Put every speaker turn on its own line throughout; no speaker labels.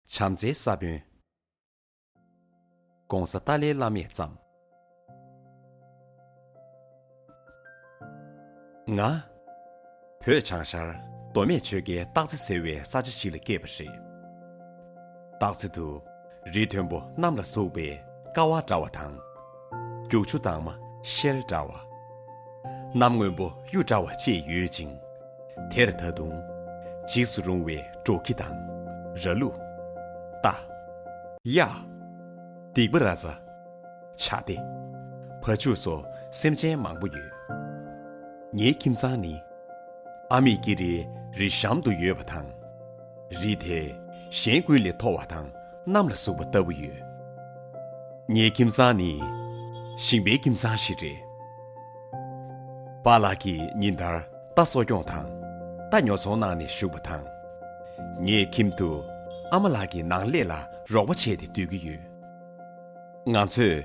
བྱམས་བརྩེའི་ས་བོན། ྋགོང་ས་ཏཱ་ལའི་བླ་མས་བརྩམས། ང། བོད་བྱང་ཤར་མདོ་སྨད་ཆོལ་ཁའི་སྟག་རྩེ་ཟེར་བའི་ས་ཆ་ཞིག་ལ་སྐྱེས་པ་རེད། སྟག་རྩེ་དུ་རི་མཐོན་པོ་གནམ་ལ་ཟུག་པའི་ཀ་བ་འདྲ་བ་དང། རྒྱུག་ཆུ་དྭངས་མ་ཤེལ་འདྲ་བ། གནམ་སྔོན་པོ་གཡུ་འདྲ་བ་བཅས་ཡོད་ཅིང། དེར་ད་དུང། འཇིགས་སུ་རུང་བའི་འབྲོག་ཁྱི་དང། ར་ལུ། རྟ། གཡག། སྡིག་པ་ར་རྩ། བྱ་སྡེ། བ་ཕྱུགས་སོགས་སེམས་ཅན་མང་པོ་ཡོད། ངའི་ཁྱིམ་ཚང་ནི། ཨ་མེས་ཀི་རེའི་རི་གཤམ་དུ་ཡོད་པ་དང། རིས་དེ་གཞན་ཀུན་ལས་མཐོ་བ་དང་གནམ་ལ་ཟུག་པ་ལྟ་བུ་ཡོད། ངའི་ཁྱིམ་ཚང་ནི་ཞིང་པའི་ཁྱིམ་ཚང་ཞིག་རེད། པ་ལགས་ཀྱིས་ཉིན་ལྟར་རྟ་གསོ་སྐྱོང་དང་རྟ་ཉོ་ཚོང་གནང་ནས་བཞུགས་པ་དང། ངས་ཁྱིམ་དུ་ཨ་མ་ལགས་ཀྱི་ནང་ལས་ལ་རོགས་པ་བྱས་ཏེ་སྡོད་ཀྱི་ཡོད། ང་ཚོས་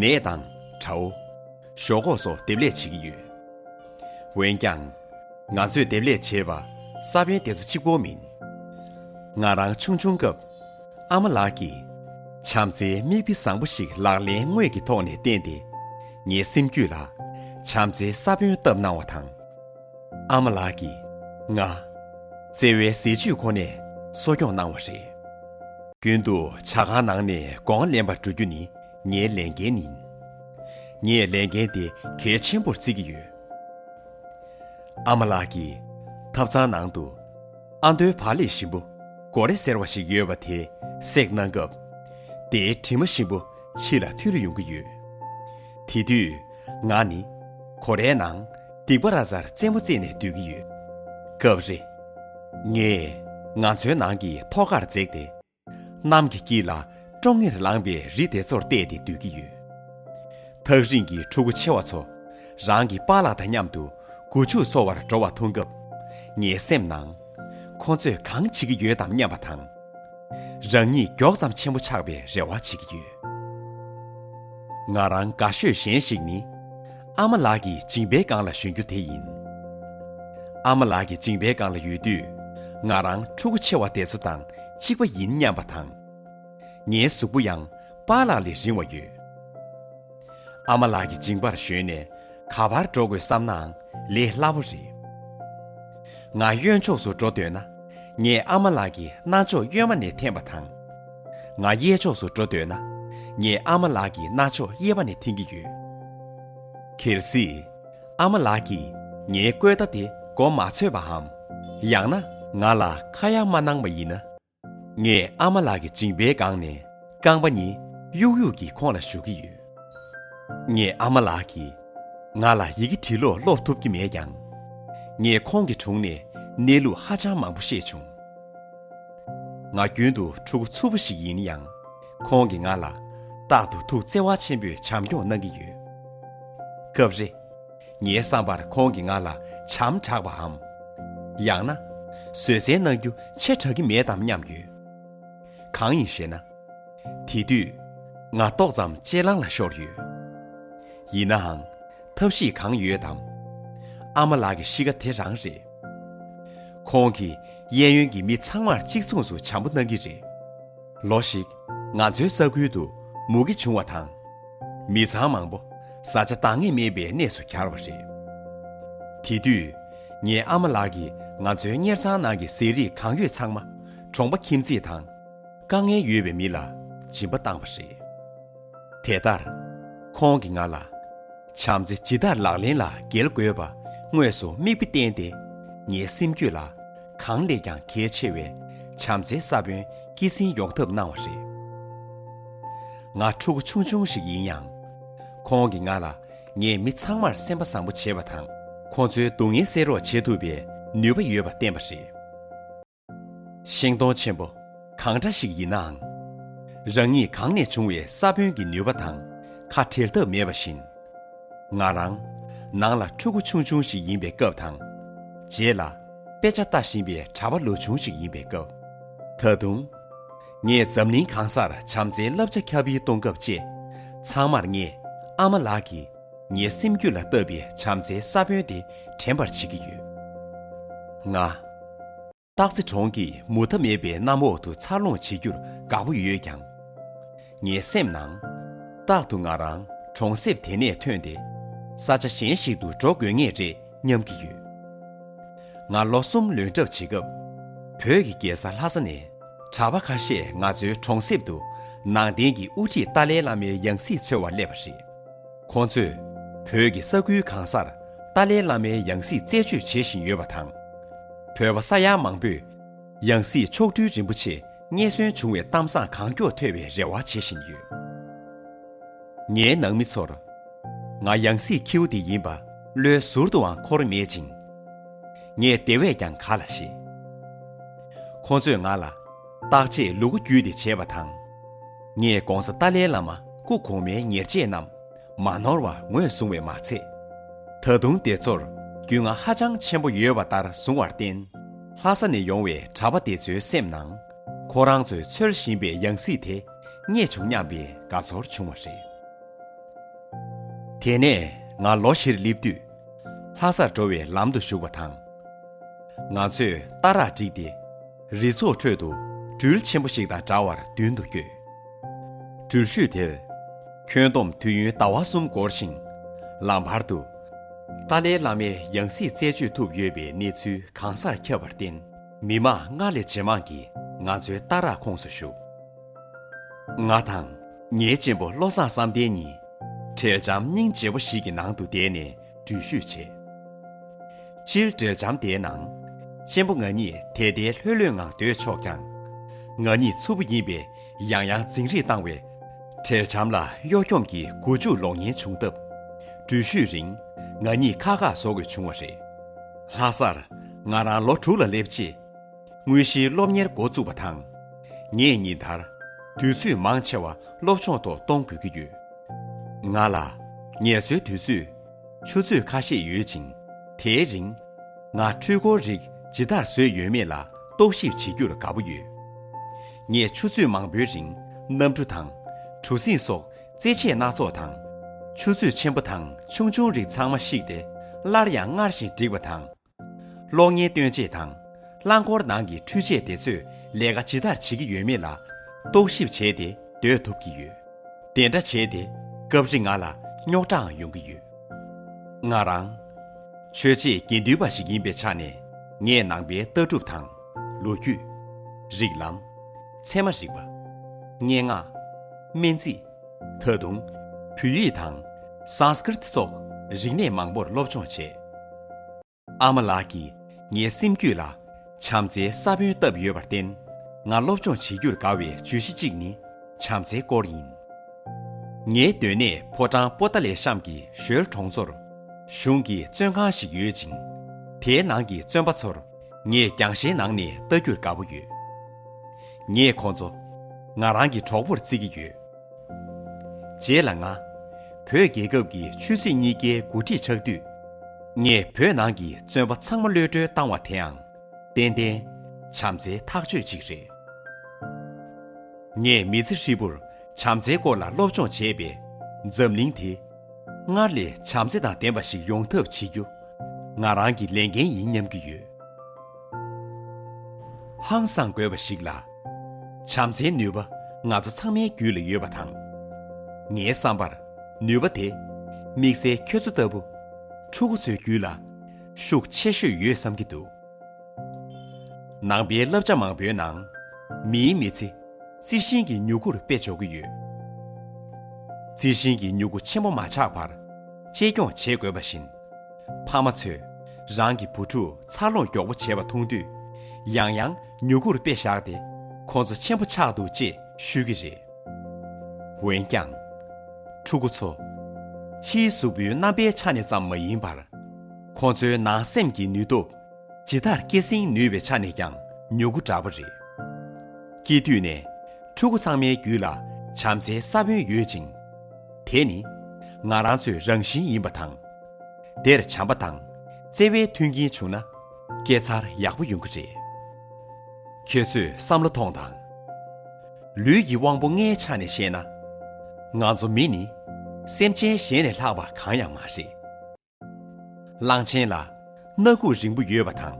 ནས་དང་བྲའོ། ཞོག་ཁོག་སོགས་འདེབས་ལས་བྱེད་ཀྱི་ཡོད། འོན་ཀྱང། ང་ཚོས་འདེབས་ལས་བྱེད་པ་ས་བོན་དེ་ཚོ་གཅིག་པོ་མིན། ང་རང་ཆུང་ཆུང་སྐབས། ཨ་མ་ལགས་ཀྱིས། བྱམས་བརྩེའི་མིག་དཔེ་བཟང་པོ་ཞིག་ལག་ལེན་དངོས་ཀྱི་ཐོག་ནས་བསྟན་ཏེ། ངའི་སེམས་རྒྱུད་ལ། བྱམས་བརྩེའི་ས་བོན་བཏབ་གནང་བ་དང། ཨ་མ་ལགས་ཀྱིས། ང། བརྩེ་བའི་ཟས་བཅུད་ཁོ་ནས་གསོ་སྐྱོང་གནང་བ་རེད། རྒྱུན་དུ་བྱ་ཁང་ནང་ནས་སྒོང་ང་ལེན་པར་འགྲོ་རྒྱུ་ནི་ངའི་ལས་འགན་ནི། ངས་ལས་འགན་དེ་གལ་ཆེན་པོར་བརྩི་གི་ཡོད། ཨ་མ་ལགས་ཀྱིས། ཐབ་ཚང་ནང་དུ། ཨ་མདོའི་བག་ལེབ་ཞིམ་པོ་གོ་རེ་ཟེར་བ་ཞིག་ཡོད་པ་དེ་སྲེག་གནང་སྐབས། དེའི་དྲི་མ་ཞིམ་པོ་ཕྱི་ལ་འཐུལ་ཡོང་གི་ཡོད། དེ་དུས། ང་ནི། གོ་རའི་ནང་སྡིག་པ་ར་གཟར་རྩེད་མོ་རྩེས་ནས་སྡོད་ཀྱི་ཡོད། སྐབས་རེ། ངས་ང་ཚོའི་ནང་གི་ཐོག་ཁར་འཛེགས་ཏེ། གནམ་གྱི་དཀྱིལ་ལ་ཀྲོང་ངེར་ལངས་པའི་རི་དེ་ཚོར་བལྟས་ཏེ་སྡོད་ཀྱི་ཡོད། ཐག་རིང་གི་ཕྲུ་གུ་ཆེ་བ་ཚོ་རང་གི་པཱ་ལགས་དང་མཉམ་དུ་སྒོ་ཕྱུགས་འཚོ་བར་འགྲོ་བ་མཐོང་སྐབས། ངའི་སེམས་ནང། ཁོ་ཚོས་གང་བྱེད་ཀྱི་ཡོད་དམ་སྙམ་པ་དང། རང་ཉིད་མགྱོགས་ཙམ་ཆེན་པོ་ཆགས་པའི་རེ་བ་བྱེད་ཀྱི་ཡོད། ང་རང་དགའ་ཤོས་གཞན་ཞིག་ནི། ཨ་མ་ལགས་ཀྱི་མཇིང་པའི་སྒང་ལ་ཞོན་རྒྱུ་དེ་ཡིན། ཨ་མ་ལགས་ཀྱི་མཇིང་པའི་སྒང་ལ་ཡོད་དུས། ང་རང་ཕྲུ་གུ་ཆེ་བ་དེ་ཚོ་དང་གཅིག་པ་ཡིན་སྙམ་པ་དང། ངའི་གཟུགས་པོ་ཡང་པཱ་ལགས་ལས་རིང་བ་ཡོད། ཨ་མ་ལགས་ཀྱི་མཇིང་པར་ཞོན་ནས་ག་བར་འགྲོ་དགོས་བསམ་ནའང་ལས་སླ་བོ་རེད། ང་གཡོན་ཕྱོགས་སུ་འགྲོ་འདོད་ན་ངས་ཨ་མ་ལགས་ཀྱི་རྣ་ཅོག་གཡོན་མ་ནས་འཐེན་པ་དང། ང་གཡས་ཕྱོགས་སུ་འགྲོ་འདོད་ན། ངས་ཨ་མ་ལགས་ཀྱི་རྣ་ཅོག་གཡས་པ་ནས་འཐེན་གྱི་ཡོད། གལ་སྲིད། ཨ་མ་ལགས་ཀྱིས་ངའི་བཀོད་བརྡ་དེ་གོ་མ་ཆོད་པའམ། ཡང་ན་ང་ལ་ཁ་ཡ་མ་གནང་བ་ཡིན་ན། ངས་ཨ་མ་ལགས་ཀྱི་མཇིང་པའི་སྒང་ནས་རྐང་པ་གཉིས་གཡུག་གཡུག་གིས་ཁོང་ལ་གཞུག་གི་ཡོད། ངས་ཨ་མ་ལགས་ཀྱིས་ང་ལ་ཡི་གེ་བྲིས་ལོག་ཀློག་ཐུབ་ཀྱི་མེད་ཀྱང། ངས་ཁོང་གི་དྲུང་ནས་གནས་ལུགས་ཧ་ཅང་མང་པོ་ཤེས་བྱུང། ང་རྒྱུན་དུ་ཕྲུ་གུ་འཚུབ་པོ་ཞིག་ཡིན་ཡང། ཁོང་གིས་ང་ལ་རྟག་ཏུ་ཐུགས་བརྩེ་བ་ཆེན་པོས་བྱམས་སྐྱོང་གནང་གི་ཡོད། སྐབས་རེ། ངའི་བསམ་པར་ཁོང་གིས་ང་ལ་བྱམས་དྲགས་པའམ། ཡང་ན། བཟོད་བསྲན་གནང་རྒྱུ་ཆེ་དྲགས་ཀྱི་མེད་དམ་སྙམ་ཡོད། གང་ཡིན་ཞེ་ན། དེ་དུས། ང་ཏོག་ཙམ་གཅེས་ལང་ལ་ཤོར་ཡོད། ཡིན་ནའང། ཐབས་ཤེས་གང་ཡོད་དམ། ཨ་མ་ལགས་ཀྱི་གཤིས་ཀ་དེ་རང་རེད། ཁོང་གིས་གཡས་གཡོན་གྱི་མི་ཚང་མར་གཅིག་མཚུངས་སུ་བྱམས་པོ་གནང་གི་རེད། ལོ་ཞིག་ང་ཚོའི་ས་ཁུལ་དུ་མུ་གེ་བྱུང་བ་དང། མི་ཚང་མང་པོ་བཟའ་བཅའ་འདང་ངེས་མེད་པའི་གནས་སུ་གྱར་བ་རེད། དེ་དུས་ངའི་ཨ་མ་ལགས་ཀྱིས་ང་ཚོའི་གཉེར་ཚང་ནང་གི་ཟས་རིགས་གང་ཡོད་ཚང་མ་གྲོང་པ་ཁྱིམ་མཚེས་དང། དཀའ་ངལ་ཡོད་པའི་མི་ལ་སྦྱིན་པ་བཏང་བ་རེད། དེ་ལྟར། ཁོང་གིས་ང་ལ། བྱམས་བརྩེ་ཇི་ལྟར་ལག་ལེན་ལ་འགེལ་དགོས་པ་དངོས་སུ་མིག་དཔེ་བསྟན་ཏེ། ངའི་སེམས་རྒྱུད་ལ་གང་ལས་ཀྱང་གལ་ཆེ་བའི་བྱམས་བརྩེའི་ས་བོན་སྐྱེད་སྲིང་ཡོང་ཐབས་གནང་བ་རེད། ང་ཕྲུ་གུ་ཆུང་ཆུང་ཞིག་ཡིན་ཡང། ཁོང་གིས་ང་ལ་ངའི་མི་ཚང་མར་སེམས་པ་བཟང་པོ་བྱེད་པ་དང་ཁོང་ཚོའི་སྡུག་བསྔལ་སེལ་རོགས་བྱེད་ཐུབ་པའི་ནུས་པ་ཡོད་པ་བསྟན་པ་རེད། ཤིང་སྡོང་ཆེན་པོ་གང་འདྲ་ཞིག་ཡིན་ནའང། རང་ཉིད་གང་ནས་བྱུང་བའི་ས་བོན་གྱི་ནུས་པ་དང་ཁ་བྲལ་ཐབས་མེད་པ་བཞིན། ང་རང། ནང་ལ་ཕྲུ་གུ་ཆུང་ཆུང་ཞིག་ཡིན་པའི་སྐབས་དང། རྗེས་ལ་དཔེ་ཆ་ལྟ་བཞིན་པའི་གྲྭ་པ་ལོ་ཆུང་ཞིག་ཡིན་པའི་སྐབས། ད་དུང། ངས་འཛམ་གླིང་གང་སར་བྱམས་བརྩེའི་བསླབ་བྱ་ཁྱབ་སྤེལ་གཏོང་སྐབས་བཅས། ཚང་མར་ངས་ཨ་མ་ལགས་ཀྱིས་ངའི་སེམས་རྒྱུད་ལ་བཏབ་པའི་བྱམས་བརྩེའི་ས་བོན་དེ་དྲན་པར་བྱེད་ཀྱི་ཡོད། ང། སྟག་རྩེ་གྲོང་གི་མུ་མཐའ་མེད་པའི་གནམ་འོག་ཏུ་འཚར་ལོངས་བྱེད་རྒྱུར་དགའ་པོ་ཡོད་ཀྱང། ངའི་སེམས་ནང། རྟག་ཏུ་ང་རང་གྲོང་གསེབ་དེ་ནས་ཐོན་ཏེ། ས་ཆ་གཞན་ཞིག་ཏུ་འགྲོ་དགོས་ངེས་རེད་སྙམ་གྱི་ཡོད། ང་ལོ་གསུམ་ལོན་གྲབས་བྱེད་སྐབས། བོད་ཀྱི་རྒྱལ་ས་ལྷ་ས་ནས་གྲྭ་པ་ཁ་ཤས་ང་ཚོའི་གྲོང་གསེབ་ཏུ་ནང་བསྟན་གྱི་དབུ་ཁྲིད་ཏཱ་ལའི་བླ་མའི་ཡང་སྲིད་འཚོལ་བར་སླེབས་པ་རེད། ཁོང་ཚོས་བོད་ཀྱི་ས་ཁུལ་གང་སར་ཏཱ་ལའི་བླ་མའི་ཡང་སྲིད་རྩད་གཅོད་བྱེད་བཞིན་ཡོད་པ་དང། བོད་པ་ས་ཡ་མང་པོས་ཡང་སྲིད་མཆོག་སྤྲུལ་རིན་པོ་ཆེ་རྙེད་སོན་བྱུང་བའི་གཏམ་བཟང་གང་མགྱོགས་ཐོས་པའི་རེ་བ་བྱེད་བཞིན་ཡོད། ངའི་ནང་མི་ཚོར་ང་ཡང་སྲིད་ཁྱེའུ་དེ་ཡིན་པ་བློའི་ཟུར་དུའང་འཁོར་མེད་ཅིང། ངས་དེ་བས་ཀྱང་ག་ལ་ཤེས། ཁོང་ཚོས་ང་ལ་བརྟག་དཔྱད་ལུ་གུ་རྒྱུད་དེ་བྱས་པ་དང། ངས ྋགོང་ས་ཏཱ་ལའི་བླ་མ་སྐུ་གོང་མའི་ཉེར་སྤྱད་རྣམས་མ་ནོར་བར་ངོས་བཟུང་བས་མ་ཚད། ད་དུང་དེ་ཚོར་རྒྱུས་མངའ་ཧ་ཅང་ཆེན་པོ་ཡོད་པ་ལྟར་བཟུང་བར་བརྟེན། ལྷ་ས་ནས་ཡོང་བའི་གྲྭ་པ་དེ་ཚོའི་སེམས་ནང་ཁོ་རང་ཚོས་འཚོལ་བཞིན་པའི་ཡང་སྲིད་དེ་རྙེད་བྱུང་སྙམ་པའི་དགའ་ཚོར་བྱུང་བ་རེད། དེ་ནས་ང་ལོ་བཞིར་སླེབས་དུས། ལྷ་སར་འགྲོ་བའི་ལམ་དུ་ཞུགས་པ་དང། ང་ཚོས་རྟ་རག་བསྒྲིགས་ཏེ། རི་ཚོགས་ཁྲོད་དུ་སྦྲུལ་ཆེན་པོ་ཞིག་དང་འདྲ་བར་མདུན་དུ་བསྐྱོད། སྦྲུལ་ཤུལ་དེར། ཁྱོན་བསྡོམས་དུས་ཡུན་ཟླ་བ་གསུམ་འགོར་ཞིང། ལམ་བར་དུ། ཏཱ་ལའི་བླ་མའི་ཡང་སྲིད་རྩད་གཅོད་ཐུབ་ཡོད་པའི་གནས་ཚུལ་གང་སར་ཁྱབ་པར་བརྟེན། མི་དམངས་སྔར་ལས་ཇེ་མང་གིས་ང་ཚོའི་ལྟ་རག་ཁོངས་སུ་ཞུགས། ང་དང། ངའི་གཅེན་པོ་བློ་བཟང་བསམ་གཏན་གཉིས། འཕྲལ་འཇམ་སྙིང་རྗེ་བོ་ཞིག་གི་ནང་དུ་བསྡད་ནས་འགྲུལ་བཞུད་བྱས། ཕྱིར་བྲོས་འཇམ་དཔལ་ནང། གཅེན་པོ་ང་གཉིས་དལ་དལ་ལྷོད་ལྷོད་ངང་སྡོད་ཆོག་ཀྱང། ང་གཉིས་ཚུར་བུ་ཡིན་པས་ཡང་ཡང་འཛིང་རེས་བཏང་བས། བྲེལ་འཇམ་ལ་གཡོ་འཁྱོམ་གྱི་མགོ་འཇུག་ལོག་ཉེན་བྱུང་སྟབས། འགྲུལ་བཞུད་རིང་ང་གཉིས་ཁག་ཁག་བཟོ་དགོས་བྱུང་བ་རེད། ལྷ་སར་ང་རང་ལོ་དྲུག་ལ་སླེབས་རྗེས། དངོས་གཞིའི་སློབ་གཉེར་འགོ་བཙུགས་པ་དང། ངས་ཉིན་ལྟར། དུས་ཚོད་མང་ཆེ་བ་སློབ་སྦྱོང་ཐོག་གཏོང་དགོས་ཀྱི་ཡོད། ང་ལ། ངལ་གསོའི་དུས་ཚོད། ཆུ་ཚོད་ཁ་ཤས་ཡོད་ཅིང། དེའི་རིང། ང་འཕྲུལ་འཁོར་རིགས་ཇི་ལྟར་བཟོས་ཡོད་མེད་ལ་རྟོག་ཞིབ་བྱེད་རྒྱུར་དགའ་བོ་ཡོད། ངས་ཆུ་ཚོད་མང་བོའི་རིང་གནམ་གྲུ་དང། གྲུ་གཟིངས་སོགས་རྩེད་ཆས་སྣ་ཚོགས་དང། ཆུ་ཚོད་ཆེན་པོ་དང་ཆུང་ཆུང་རིགས་ཚང་མ་བཤིག་སྟེ་སླར་ཡང་སྔར་བཞིན་བསྒྲིགས་པ་དང། གློག་བརྙན་སྟོན་བྱེད་དང། རླངས་འཁོར་ནང་གི་འཕྲུལ་ཆས་དེ་ཚོས་ལས་ཀ་ཇི་ལྟར་བྱེད་ཀྱི་ཡོད་མེད་ལ་རྟོག་ཞིབ་བྱས་ཏེ་སྡོད་ཐུབ་ཀྱི་ཡོད། དེ་འདྲ་བྱས་ཏེ་སྐབས་རེ་ང་ལ་རྙོག་དྲའང་ཡོང་གི་ཡོད། ང་རང། ཆོས་བྱེད་དགེ་འདུན་པ་ཞིག་ཡིན་པའི་ཆ་ནས་ངས་ནང་པའི་ལྟ་གྲུབ་དང། ལོ་རྒྱུས། རིགས་ལམ། ཚད་མ་རིག་པ། སྙན་ངག། སྨན་རྩིས། ད་དུང། བོད་ཡིག་དང། Sanskrit སོགས་རིག་གནས་མང་པོར་སློབ་སྦྱོང་བྱས། ཨ་མ་ལགས་ཀྱིས་ངའི་སེམས་རྒྱུད་ལ་བྱམས་བརྩེའི་ས་བོན་བཏབ་ཡོད་པར་བརྟེན། ང་སློབ་སྦྱོང་བྱེད་རྒྱུར་དགའ་བའི་བརྗོད་གཞི་གཅིག་ནི་བྱམས་བརྩེའི་སྐོར་ཡིན། ངའི་སྡོད་གནས་ཕོ་བྲང་པོ་ཏཱ་ལའི་ཤམ་གྱི་ཞོལ་གྲོང་ཚོར། གཞུང་གི་བཙོན་ཁང་ཞིག་ཡོད་ཅིང། དེའི་ནང་གི་བཙོན་པ་ཚོར་ངས་རྒྱང་ཤེལ་ནང་ནས་ལྟ་རྒྱུར་དགའ་པོ་ཡོད། ངས་ཁོང་ཚོ། ང་རང་གི་གྲོགས་པོར་བརྩི་གི་ཡོད། རྗེས་ལ་ང། བོད་རྒྱལ་ཁབ་ཀྱི་ཆོས་སྲིད་གཉིས་ཀའི་འགོ་ཁྲིད་ཆགས་དུས། ངས་བོད་ནང་གི་བཙོན་པ་ཚང་མ་གློད་གྲོལ་བཏང་བ་དེའང། ཏན་ཏན། བྱམས་བརྩེའི་ཐག་གཅོད་ཅིག་རེད། ངས་མི་ཚེ་ཧྲིལ་པོར་བྱམས་བརྩེའི་སྐོར་ལ་སློབ་སྦྱོང་བྱས་པས། འཛམ་གླིང་དེ། སྔར་ལས་བྱམས་བརྩེ་དང་ལྡན་པ་ཞིག་ཡོང་ཐབས་བྱེད་རྒྱུ་ང་རང་གི་ལས་འགན་ཡིན་སྙམ་གྱི་ཡོད། ཧང་སངས་དགོས་པ་ཞིག་ལ། བྱམས་བརྩེའི་ནུས་པ་ང་ཚོ་ཚང་མའི་རྒྱུད་ལ་ཡོད་པ་དང། ངའི་བསམ་པར་ནུས་པ་དེ་དམིགས་བསལ་ཁྱོད་ཚོ་ལྟ་བུ་ཕྲུ་གུ་ཚོའི་རྒྱུད་ལ་ཤུགས་ཆེ་ཤོས་ཡོད་བསམ་གྱི་འདུག། ནང་པའི་བསླབ་བྱ་མང་པོའི་ནང། མིའི་མི་ཚེ། རྩི་ཤིང་གི་མྱུ་གུར་དཔེ་འཇོག་གི་ཡོད། རྩི་ཤིང་གི་མྱུ་གུ་ཆེན་པོ་མ་ཆགས་པར། གཅེས་སྐྱོང་བྱེད་དགོས་པ་བཞིན། ཕ་མ་ཚོས་རང་གི་བུ་ཕྲུག་འཚར་ལོངས་མགྱོགས་པོ་བྱེད་པ་མཐོང་དུས། ཡང་ཡང་མྱུ་གུར་དཔེ་བཞག་སྟེ་ཁོང་ཚོ་ཆེན་པོ་ཆགས་འདུག་ཅེས་ཤོད་ཀྱི་རེད། འོན་ཀྱང། ཕྲུ་གུ་ཚོ། ཕྱིའི་གཟུགས་པོའི་རྣམ་པའི་ཆ་ནས་ཙམ་མ་ཡིན་པར། ཁོང་ཚོའི་ནང་སེམས་ཀྱི་ནུས་སྟོབས། ཇི་ལྟར་སྐྱེད་སྲིང་ནུས་པའི་ཆ་ནས་ཀྱང་མྱུ་གུ་འདྲ་བོ་རེད། སྐྱེས་དུས་ནས། ཕྲུ་གུ་ཚང་མའི་རྒྱུད་ལ་བྱམས་བརྩེའི་ས་བོན་ཡོད་ཅིང། དེ་ནི། ང་རང་ཚོའི་རང་བཞིན་ཡིན་པ་དང། དེར་བྱམས་པ་དང་བརྩེ་བའི་མཐུན་རྐྱེན་བྱུང་ན། སྐྱེ་འཚར་ཡག་པོ་ཡོང་གི་རེད། ཁྱོད་ཚོས་བསམ་བློ་ཐོངས་དང། ལུས་ཀྱི་དབང་པོ་ལྔའི་ཆ་ནས་བཤད་ན། ང་ཚོ་མི་ནི། སེམས་ཅན་གཞན་ལས་ལྷག་པ་གང་ཡང་མ་རེད། གླང་ཆེན་ལ་སྣ་ཁུག་རིང་པོ་ཡོད་པ་དང།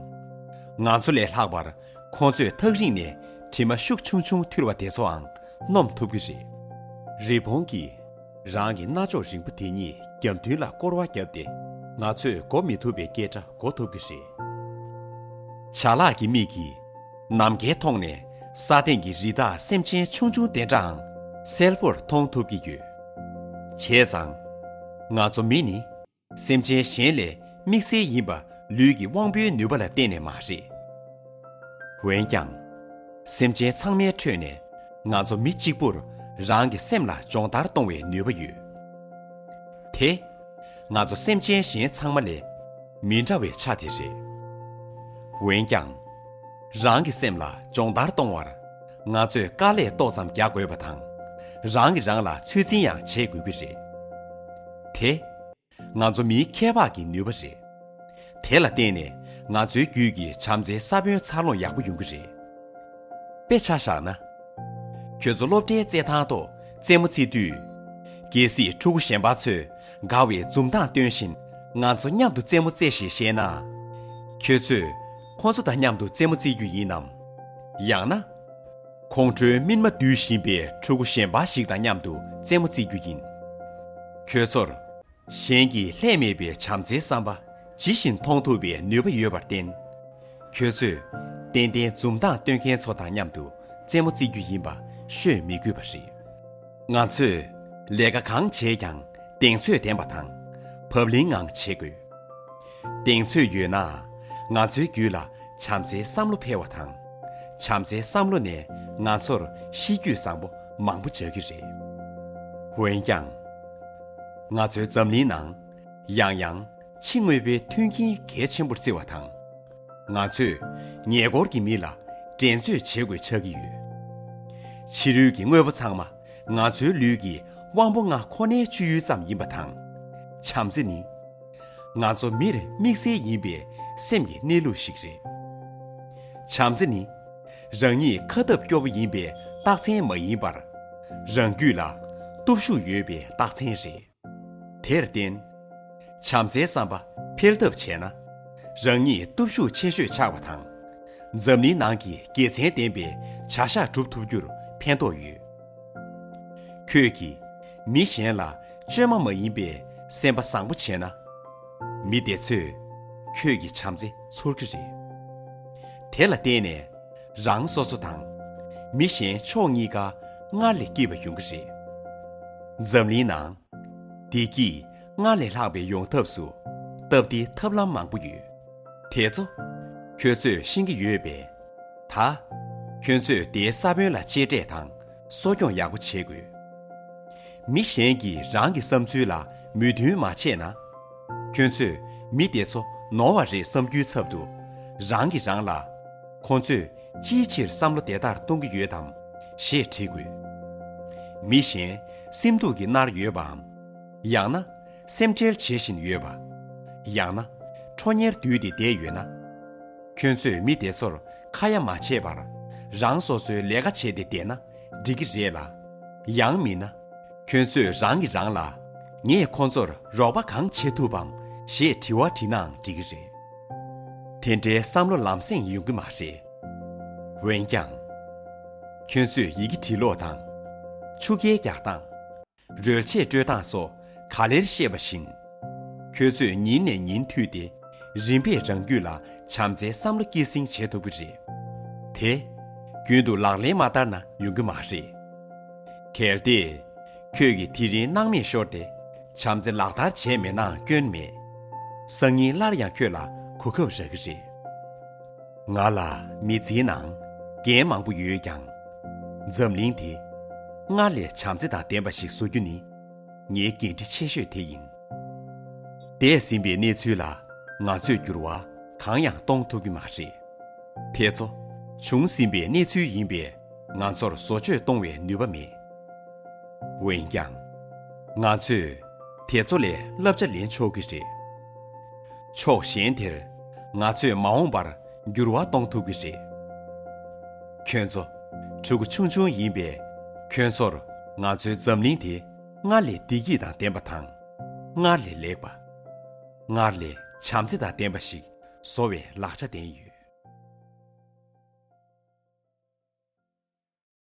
ང་ཚོ་ལས་ལྷག་པར་ཁོང་ཚོས་ཐག་རིང་ནས་དྲི་མ་ཤུགས་ཆུང་ཆུང་འཐུལ་བ་དེ་ཚོའང་སྣོམ་ཐུབ་ཀྱི་རེད། རི་བོང་གིས་རང་གི་རྣ་ཅོག་རིང་པོ་དེ་གཉིས་རྒྱབ་མདུན་ལ་སྐོར་བ་བརྒྱབ་སྟེ་ང་ཚོས་འགོ་མི་ཐུབ་པའི་སྐད་སྒྲ་གོ་ཐུབ་ཀྱི་རེད། བྱ་གླག་གི་མིག་གིས་ནམ་མཁའི་མཐོངས་ནས་ས་སྟེང་གི་རི་དྭགས་སེམས་ཅན་ཆུང་ཆུང་དེ་འདྲའང་གསལ་པོར་མཐོང་ཐུབ་ཀྱི་ཡོད། བྱས་ཙང། ང་ཚོ་མི་ནི་སེམས་ཅན་གཞན་ལས་དམིགས་བསལ་ཡིན་པ་ལུས་ཀྱི་དབང་པོའི་ནུས་པ་ལ་བརྟེན་ནས་མ་རེད། འོན་ཀྱང། སེམས་ཅན་ཚང་མའི་ཁྲོད་ནས་ང་ཚོ་མི་གཅིག་པུར་རང་གི་སེམས་ལ་སྦྱོང་བརྡར་གཏོང་བའི་ནུས་པ་ཡོད་དེ། ང་ཚོ་སེམས་ཅན་གཞན་ཚང་མ་ལས་མི་འདྲ་བའི་ཆ་དེ་རེད། འོན་ཀྱང། རང་གི་སེམས་ལ་སྦྱོང་བརྡར་གཏོང་བར་ང་ཚོས་དཀའ་ལས་ཏོག་ཙམ་རྒྱག་དགོས་པ་དང། རང་གིས་རང་ལ་ཚོད་འཛིན་ཡང་བྱེད་དགོས་ཀྱི་རེད་དེ། ང་ཚོ་མིའི་ཁྱད་འཕགས་ཀྱི་ནུས་པ་རེད། དེ་ལ་བརྟེན་ནས་ང་ཚོའི་རྒྱུད་ཀྱི་བྱམས་བརྩེའི་ས་བོན་འཚར་ལོངས་ཡག་པོ་ཡོང་གི་རེད། དཔེ་ཆ་བཞག་ན། ཁྱོད་ཚོ་སློབ་གྲྭའི་རྩེད་ཐང་དུ་རྩེད་མོ་རྩེ་དུས། གལ་སྲིད་ཕྲུ་གུ་གཞན་པ་ཚོས་དགའ་བའི་འཛུམ་མདངས་སྟོན་བཞིན་ང་ཚོ་མཉམ་དུ་རྩེད་མོ་རྩེ་ཞེས་བཤད་ན། ཁྱོད་ཚོས་ཁོ་ཚོ་དང་མཉམ་དུ་རྩེད་མོ་རྩེ་རྒྱུ་ཡིན་ནམ། ཡང་ན། ཁོང་ཁྲོའི་སྨིན་མ་བསྡུས་བཞིན་པའི་ཕྲུ་གུ་གཞན་འབའ་ཞིག་དང་མཉམ་དུ་རྩེད་མོ་རྩེ་རྒྱུ་ཡིན། ཁྱོད་ཚོར། གཞན་གྱིས་ལྷད་མེད་པའི་བྱམས་བརྩེའི་བསམ་པ་ཇི་བཞིན་མཐོང་ཐུབ་པའི་ནུས་པ་ཡོད་པར་བརྟེན། ཁྱོད་ཚོས་ཏན་ཏན་འཛུམ་མདངས་སྟོན་མཁན་ཚོ་དང་མཉམ་དུ་རྩེད་མོ་རྩེ་རྒྱུ་ཡིན་པ་ཤོད་མི་དགོས་པ་རེད། ང་ཚོས་ལས་ཀ་གང་བྱས་ཀྱང་གདེང་ཚོད་ལྡན་པ་དང་བབ་བརླིང་ངང་བྱེད་དགོས། གདེང་ཚོད་ཡོད་ན་ང་ཚོའི་རྒྱུད་ལ་བྱམས་བརྩེའི་བསམ་བློ་འཕེལ་བ་དང། བྱམས་བརྩེའི་བསམ་བློ་ནས་ང་ཚོར་གཤིས་རྒྱུད་བཟང་པོ་མང་པོ་འཇགས་ཀྱི་རེད། འོན་ཀྱང། ང་ཚོའི་འཛམ་གླིང་ནང་ཡང་ཡང་ཕྱི་དངོས་པོའི་མཐུན་རྐྱེན་གལ་ཆེན་པོར་བརྩི་བ་དང། ང་ཚོས་ཉེ་འཁོར་གྱི་མི་ལ་འགྲན་རྩོད་བྱེད་དགོས་ཆགས་ཀྱི་ཡོད། ཕྱི་རོལ་གྱི་དངོས་པོ་ཚང་མ་ང་ཚོའི་ལུས་ཀྱི་དབང་པོ་ལྔ་ཁོ་ནའི་སྤྱོད་ཡུལ་ཙམ་ཡིན་པ་དང། བྱམས་བརྩེ་ནི་ང་ཚོ་མིར་དམིགས་བསལ་ཡིན་པའི་སེམས་ཀྱི་གནས་ལུགས་ཤིག་རེད། བྱམས་བརྩེ་ནི་རང་ཉིད་ཁ་སྟབས་སྐྱོ་བོ་ཡིན་པའི་རྟགས་མཚན་མ་ཡིན་པར། རང་རྒྱུད་ལ་སྟོབས་ཤུགས་ཡོད་པའི་རྟགས་མཚན་རེད། དེར་བརྟེན། བྱམས་བརྩེའི་བསམ་པ་འཕེལ་ཐབས་བྱས་ན། རང་ཉིད་སྟོབས་ཤུགས་ཆེ་ཤོས་ཆགས་པ་དང། འཛམ་གླིང་ནང་གི་དགེ་མཚན་ལྡན་པའི་བྱ་གཞག་སྒྲུབ་ཐུབ་རྒྱུར་ཕན་ཐོགས་ཡོད། ཁྱོད་ཀྱིས་མི་གཞན་ལ་བཅོས་མ་མ་ཡིན་པའི་སེམས་པ་བཟང་པོ་བྱས་ན། མི་དེ་ཚོས་ཁྱོད་ཀྱི་བྱམས་བརྩེ་ཚོར་གྱི་རེད། དེ་ལ་བརྟེན་ནས། རང་སོ་སོ་དང། མི་གཞན་ཕྱོགས་གཉིས་ཀ་སྔར་ལས་སྐྱིད་པ་ཡོང་གི་རེད། འཛམ་གླིང་ནང། བདེ་སྐྱིད་སྔར་ལས་ལྷག་པའི་ཡོང་ཐབས་སུ་སྟབས་བདེ་ཐབས་ལམ་མང་པོ་ཡོད། དེ་ཚོ། ཁྱོད་ཚོས་ཤེས་ཀྱི་ཡོད་པས། ད། ཁྱོད་ཚོས་དེའི་ས་བོན་ལ་གཅེས་སྤྲས་དང་གསོ་སྐྱོང་ཡག་པོ་བྱེད་དགོས། མི་གཞན་གྱིས་རང་གི་བསམ་ཚུལ་ལ་མོས་མཐུན་མ་བྱས་ན། ཁྱོད་ཚོས་མི་དེ་ཚོ་ནོར་བ་རེད་བསམ་རྒྱུའི་ཚབ་ཏུ། རང་གིས་རང་ལ། ཁོ་ཚོས་ཅིའི་ཕྱིར་བསམ་བློ་དེ་ལྟར་གཏོང་གི་ཡོད་དམ། ཞེས་དྲིས་དགོས། མི་གཞན་སེམས་སྡུག་གིས་མནར་ཡོད་པའམ། ཡང་ན། སེམས་ཁྲལ་བྱེད་བཞིན་ཡོད་པ། ཡང་ན། ཁྲོ་གཉེར་འདུས་ཏེ་བསྡད་ཡོད་ན། ཁྱོད་ཚོས་མི་དེ་ཚོར་ཁ་ཡ་མ་བྱས་པར་རང་སོ་སོའི་ལས་ཀ་བྱས་ཏེ་བསྡད་ན་འགྲིག་གི་རེད་ལ། ཡང་མིན་ན། ཁྱོད་ཚོས་རང་གིས་རང་ལ། ངས་ཁོ་ཚོར་རོགས་པ་གང་བྱེད་ཐུབ་བམ་ཞེས་དྲི་བ་དྲིས་ནའང་འགྲིག་གི་རེད། དེ་འདྲའི་བསམ་བློ་ལམ་སེང་ཡོང་གི་མ་རེད། འོན་ཀྱང། ཁྱོད་ཚོས་ཡི་གེ་བྲིས་ཀློག་དང། ཆུ་རྐྱལ་རྒྱག་སྟངས། རོལ་ཆས་སྤྲོད་སྟངས་སོགས་ག་ལེར་བཤད་པ་བཞིན། ཁྱོད་ཚོས་ཉིན་ནས་ཉིན་མཐུད་དེ་རིམ་པས་རང་རྒྱུད་ལ་བྱམས་བརྩེའི་བསམ་བློ་སྐྱེད་སྲིང་བྱེད་ཐུབ་ཀྱི་རེད་དེ། རྒྱུན་དུ་ལག་ལེན་མ་བསྟར་ན་ཡོང་གི་མ་རེད། གལ་ཏེ། ཁྱོད་ཀྱིས་དེ་རིང་སྣང་མེད་ཤོར་ཏེ་བྱམས་བརྩེ་ལག་བསྟར་བྱས་མེད་ནའང་སྐྱོན་མེད། སང་ཉིན་སླར་ཡང་ཁྱོད་ལ་གོ་སྐབས་རག་གི་རེད། ང་ལ་མི་ཚེའི་ནང་འགན་མང་པོ་ཡོད་ཀྱང། འཛམ་གླིང་དེ་སྔར་ལས་བྱམས་བརྩེ་དང་ལྡན་པ་ཞིག་བཟོ་རྒྱུ་ནི་ངའི་འགན་འཁྲི་ཆེ་ཤོས་དེ་ཡིན། འདས་ཟིན་པའི་གནས་ཚུལ་ལ་ང་ཚོས་འགྱུར་བ་གང་ཡང་གཏོང་ཐུབ་ཀྱི་མ་རེད། དེ་ཚོ་བྱུང་ཟིན་པའི་གནས་ཚུལ་ཡིན་པས་ང་ཚོར་བཟོ་བཅོས་གཏོང་བའི་ནུས་པ་མེད། འོན་ཀྱང། ང་ཚོས་དེ་ཚོ་ལས་བསླབ་བྱ་ལེན་ཆོག་གི་རེད། ཕྱོགས་གཞན་དེར་ང་ཚོས་མ་འོངས་པར་འགྱུར་བ་གཏོང་ཐུབ་ཀྱི་རེད། ཁྱོད་ཚོ་ཕྲུ་གུ་ཆུང་ཆུང་ཡིན་པས་ཁྱོད་ཚོར་ང་ཚོའི་འཛམ་གླིང་དེ་སྔར་ལས་བདེ་སྐྱིད་དང་ལྡན་པ་དང། སྔར་ལས་ལེགས་པ། སྔར་ལས་བྱམས་བརྩེ་དང་ལྡན་པ་ཞིག་བཟོ་བའི་ལག་ཆ་ལྡན་ཡོད།